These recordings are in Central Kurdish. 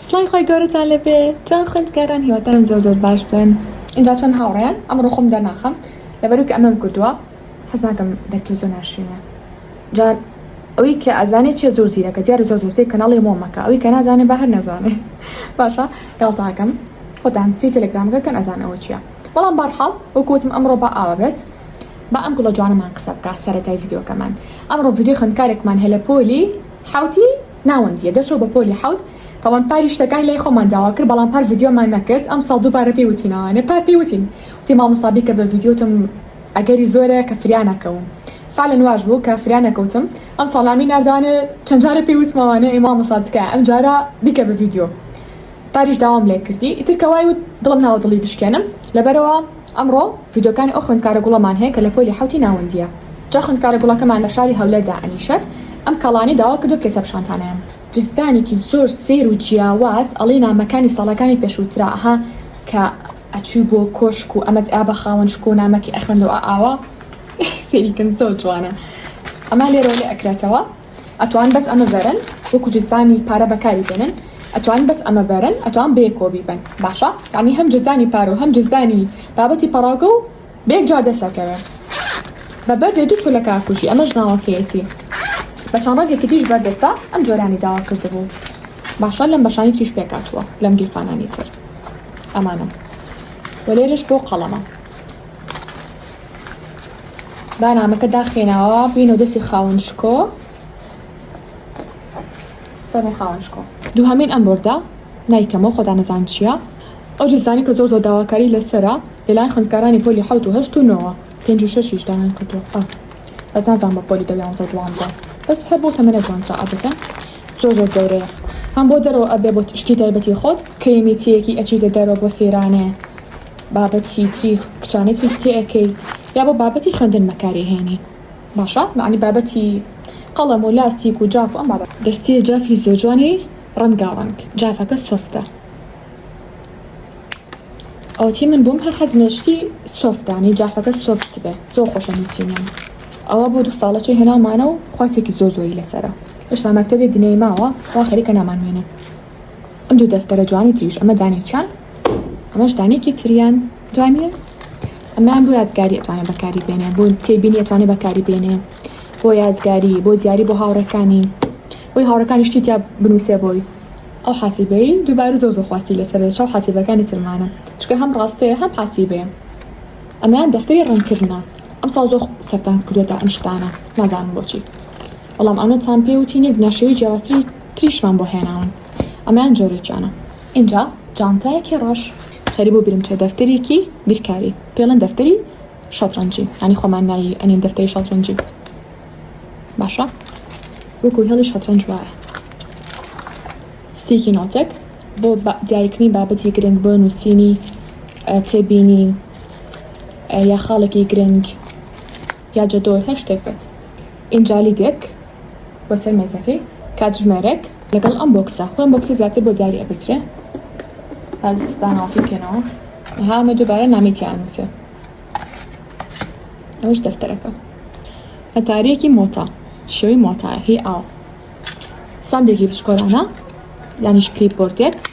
سڵاوی خوای گەورەتان لەبێ جوان خوێندکاران هیوادارم زۆر زۆر باش بن اینجا چۆن هاوڕێیان ئەمڕۆ خۆم دەرناخەم لەبەرو کە ئەمەم کردووە حەز ناکەم دەرکەوت زۆر ناشرینە جا ئەوەی کە ئەزانێ چێ زۆر زیرەکە دیارە زۆر زۆرسەی کەناڵی مۆ مەکە ئەوەی کە نازانێ بە هەر نەزانێ باشە گاڵتاکەم خۆتان سی تەلەگرامەکە کەن ئەزان ئەوە چیە بەڵام بارحاڵ وەکوتم ئەمڕۆ بە ئاوە بێت با ئەم گوڵە جوانەمان قسە بکە سەرەتای یددیوکەمان ئەمڕۆ یددیو خوندکارێکمان هەیە لە پۆلی حوتی ناوەندیە دەرچوو بە پۆلی حەوت تاوان پاری شتەکانی لای خۆمان داوا کرد بەڵام پار ڤیدیۆمان نەکرد ئەمساڵ دووبارە پێی وتینەوانێ پار پێی وتین وتی مامۆستا بیکە بە ڤیدیۆتم ئەگەری زۆرە کە فریا نەکەوم فعلەن واش بوو کە فریا نەکەوتم ئەم ساڵامی ناردوانێ چەند جارە پێی وتمەوانێ ئەی مامۆستا تکایە ئەم جارە بیکە بە ڤیدیۆ پاریش داوام لێ کردی ئیتر کە وای وت دڵم ناوە دڵی بشکێنم لەبەرەوە ئەمڕۆ ڤیدیۆکانی ئەو خوێندکارە گوڵەمان هەیە کە لە پۆلی حەوتی ناوەندییە. جا خوێندکارە گوڵەکەمان لە شاری هەولێر دائەنیشێت، ئەم کاڵانەی داوا کردووە کێسە بشانتانەیان. جزدانێکی زۆر سەیر و جیاواز ئەڵێی نامەکانی ساڵەکانی پێشووترە ئەها کە ئەچووی بۆ کۆشک و ئەمەت ئا بە خاوەن شکۆ و نامەکی ئەخوێندەوە ئا ئاوا سەیری کەن زۆر جوانە ئەما لێرەوە لێ ئەکرێتەوە. ئەتوان بەس ئەمە بەرن وەکو جزدانی پارە بەکاری بێنن ئەتوان بەس ئەمە بەرن ئەتوان بێ کۆبی بن باشە یعنی هەم جزدانی پارە و هەم جزدانی بابەتی پەڕاوگە و بێک جار دەسەکەوێ بە بەردێ دوو چۆلە کاکوژی ئەمە ژناوەکەیەتی بە چەند ڕەنگێکی دیش بەردەستە ئەم جۆرانی داوا کردبوو باشە لەم بەشانی تریش پێکاتوە لەم گیرفانانی تر ئەمانە وە لێرش بۆ قەڵەمە بانامەکە داخێناوە بینەوە دەستی خاون شکۆ فەرمی خاون شکۆ دووهەمین ئەم بردە نایکەمەوە خۆدا نەزان چییە ئەو جزدانی کە زۆر زۆر داواکاری لەسرە لەلایەن خوندکارانی پۆلی حوت و هەشت و نەوە پێنج و شەشیش داوای کردووە بەس نازان بە پۆلی دەویانزە و دوانزە بەس هەر بۆ تەمەە جوانترا ئەبەکە زۆر زۆر گەورەیە هەم بۆ دەرەوە ئەبێ بۆ شتی تایبەتی خۆت کرێمیتیەکی ئەچیتە دەرەوە بۆ سێرانێ بابەتی تری کچانەی تریت پێ ئەکەی یا بۆ بابەتی خوێندن مەکاری هێنی باشە معنی بابەتی قەڵەم و لاستیک و جاف و ئەم بابەت دەستی جافی زۆجوانی ڕەنگاڕەنگ جافەکە سۆفتە ئەوتی من بووم هەر حەز مێشتی سۆفتانی جافەکە سۆفت بێ زۆر خۆشە نووسینیان ئەوە بۆ دو ساڵەچە هێنامانە و خواتێکی زۆ زۆری لەسرە هێشتا مەکتتەبێ دنەی ماوە وا خەریکە نامانوێنێ ئەم دوو دەفتەرە جوانی تریش ئەمە دانێکیان ئەمەش دانێکی تریان جوانە ئەمان بۆ یادگاری ئەتوانێ بەکاری بێنێ بۆ تێبینی ئەتوانێ بەکاری بێنێ بۆ یادگاری بۆ دیاری بۆ هاوڕەکانی بۆی هاوڕەکانی شتی تیا بنووسێ بۆی ئەو حاسیبەی دووبارە زۆ زۆ خواستی لەسەر چاو حاسیبەکانی ترمانە چکە هەم ڕاستەیە هەم حاسیبێ ئەمان دەفتەری ڕنکردە ئەم ساڵ زۆ سەردان کردێتە ئەم شتانە نازانم بۆچی بەڵام ئەمە تام پێوتی نێک ناشەوەی جیاوازتری تریشمان بۆ هێناون ئەمان جۆرێکیانە ئینجا جانتایەکی ڕەش خەری بۆ برنچە دەفتەرێکی بیرکاری پێڵێن دەفتەری شەترەنجی ئەنی خۆمان نایی ئەنین دەفتەری شەترەنجی باشە وەکو هێڵی شەترەنج وایە ستیکی نۆتێک بۆ دیاریکردنی بابەتی گرنگ بۆ نووسینی تێبینی یا خاڵێکی گرنگ یا جەدۆل هەر شتێک بێت. ئینجا لیدێک بۆ سەر مێزەکەی. کاتژمێرێک لەگەڵ ئەم بۆکسە. خۆی ئەم بۆکسە زیاتر بۆ دیاری ئەبردرێ. بەس با ناوەکەی بکەینەوە. ها ئەمە دووبارە نامەی تیا ئەنووسێ. ئەوش دەفتەرەکە. هەتاریەکی مۆتا. شێوەی مۆتایە هی ئاو. ساندێکی بچکۆلانە یانیش کلیپ بۆردێک.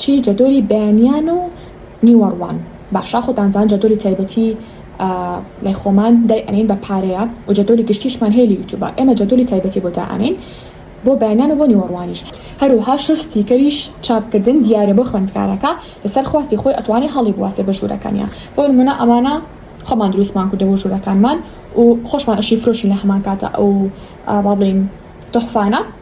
چی جەدۆلی بەیانیان و نیوەڕوان باشە خۆتان زان جەدۆلی تایبەتی لای خۆمان دای ئەنین بە پارەیە و جەدۆلی گشتیشمان هەیە لە یوتوبە ئێمە جەدۆلی تایبەتی بۆ دا ئەنین بۆ بەیانیان و بۆ نیوەڕوانیش هەروها شەش ستیکەریش چاپکردن دیارە بۆ خوێندکارەکە لەسەر خواستی خۆی ئەتوانێ هەڵی بواسێ بە ژوورەکانیا بۆ نمونە ئەمانە خۆمان دروستمان کردە بۆ ژوورەکانمان و خۆشمان ئەشی فرۆشین لە هەمان کاتە ئەو با بڵێین تحفانە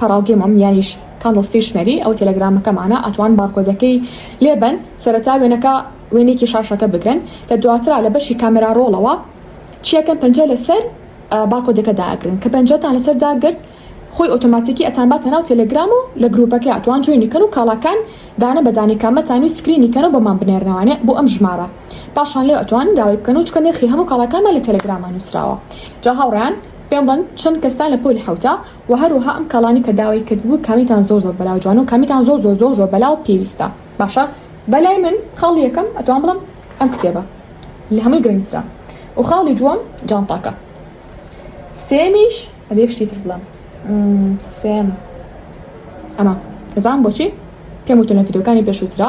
پەڕاو گێمۆم یانیش کاندڵ ستیش مەری ئەو تێلەگرامەکەمانە ئەتوان بارکۆدەکەی لێ بەن سەرەتا وێنەکە وێنێکی شاشەکە بگرن کە دواترا لە بەشی کامێرا ڕۆڵەوە چیەکەم پەنجە لەسەر بارکۆدەکە داگرن کە پەنجەتان لەسەر داگرت خۆی ئۆتۆماتیکی ئەتان باتە ناو تێلەگرام و لە گروپەکە ئەتوان جوێنی کەن و کاڵاکان دانە بەدانی کامەتان و سکرینی کەن و بۆمان بنێرنەوانێ بۆ ئەم ژمارە پاشان لێ ئەتوان داوای بکەن و چکە نرخی هەموو کاڵاکانمان لە تێلەگرامان نووسراوە جا هاوڕیان پێم بڵن چەند کەستان لە پۆلی حوتە وە هەروەها ئەم کاڵانی کە داوای کردبوو کامیتان زۆر زۆر بەلاو جوانە و کامیتان زۆر زۆر زۆر زۆر بەلاو پێویستە باشە بەلای من خاڵی یەکەم ئەتوان بڵم ئەم کتێبە لە هەمووی گرنگترە و خاڵی دووەم جانتاکە سێمیش ئەبێ شتی تر بڵم سێم ئەمە ئەزان بۆچی پێم وتونە فیدۆکانی پێشووترا